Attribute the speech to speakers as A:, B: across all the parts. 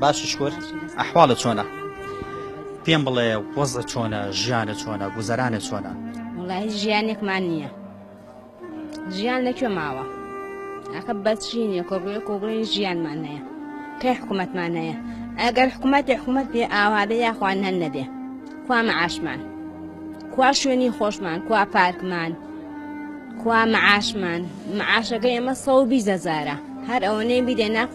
A: باشە شکور
B: ئەحواڵت چۆنە پێم بڵێ وەزە چۆنە ژیانە چۆنە گوزەرانە چۆنە وڵی
C: ژیانێکمان نییە ژیان لەکوێ ماوە ئەخە بەچینە کۆبێ کۆبڵی ژیانمان هەیە کەی حکوومەتمان هەیە ئەگەر حکوومەت حکوومەت پێ ئاوادە یاخوان هەن نەبێ کوا مەعاشمان کوا شوێنی خۆشمان کوا پارکمان کوا مەعاشمان مەعاشەکە ئێمە سەوبی زەزارە هەر ئەوەنەی بیدە ناخ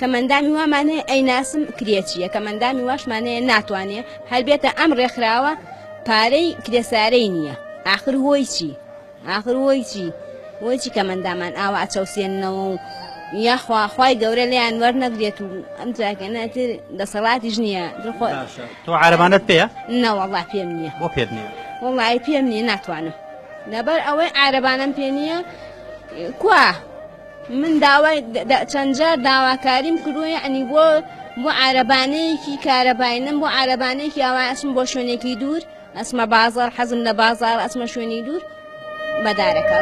C: کەمئەندامی وا مانەیە ئەیناسم کرێ چیە کەمئەندامی واش مانەیە ناتوانێ هەر بێتە ئەم ڕێکخراوە پارەی کرێ سارەی نییە ئاخر هۆی چی ئاخر هۆی چی هۆی چی کەمەندامان ئاوا ئەچەوسێننەوە و یاخوا خوای گەورە لێیان وەرنەگرێت و ئەم جاکەنەتر دەسەڵاتیش نییە دخۆ باشە تۆ
B: عربانت پێە نەوەڵا پێم نییە
C: بۆ پێت
B: نییە وڵی پێم نییە
C: ناتوانم لەبەر ئەوەی عربانم پێ نییە کوا من داوای چەند جار داواکاریم کردووە یعنی بۆ بۆ عربانەیەکی کارەبای نەم بۆ عربانەیەکی ئاوا ئەچم بۆ شوێنێکی دوور ئەسمە بازار حەزم لە بازار ئەسمە شوێنی دوور بەدارەکە.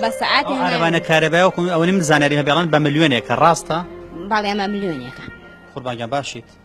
C: بە سعاتی عربانە کارەبای وکم
B: ئەوەی من زانری هەبێڵان بە ملیۆنێکە ڕاستە بەڵێ ئەمە
C: ملیۆنێکە قوربانگە باشیت.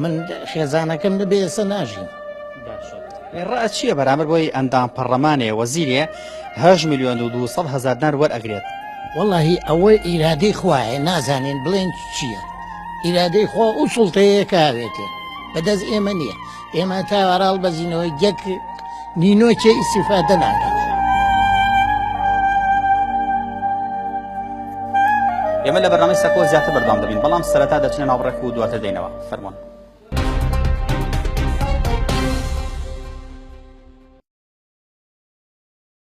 D: من خێزانەکەم نەبێ ئێستا ناژیم
B: ڕە چییە بەرامبەر بۆی ئەندام پەڕەمانێ وەزیرێ هەش میلیۆن و دو هزار دار وەرئەگرێت واللهی ئەوە
D: ئیرادەی خوایە نازانین بڵێن چییە ئیرادەی خۆ ئەو سوڵتەیە کاوێتێ بەدەست ئێمە نییە ئێمە تاواراڵ بەزینەوەی جەک نینۆکێ ئیستیفادە
B: ناکات. ئێمە لە بەرنامەی سەکۆ زیاتر بەردەوام دەبین بەڵام سەرەتا دەچنە ناو ڕێک و دواتر دێنەوە فەرمۆن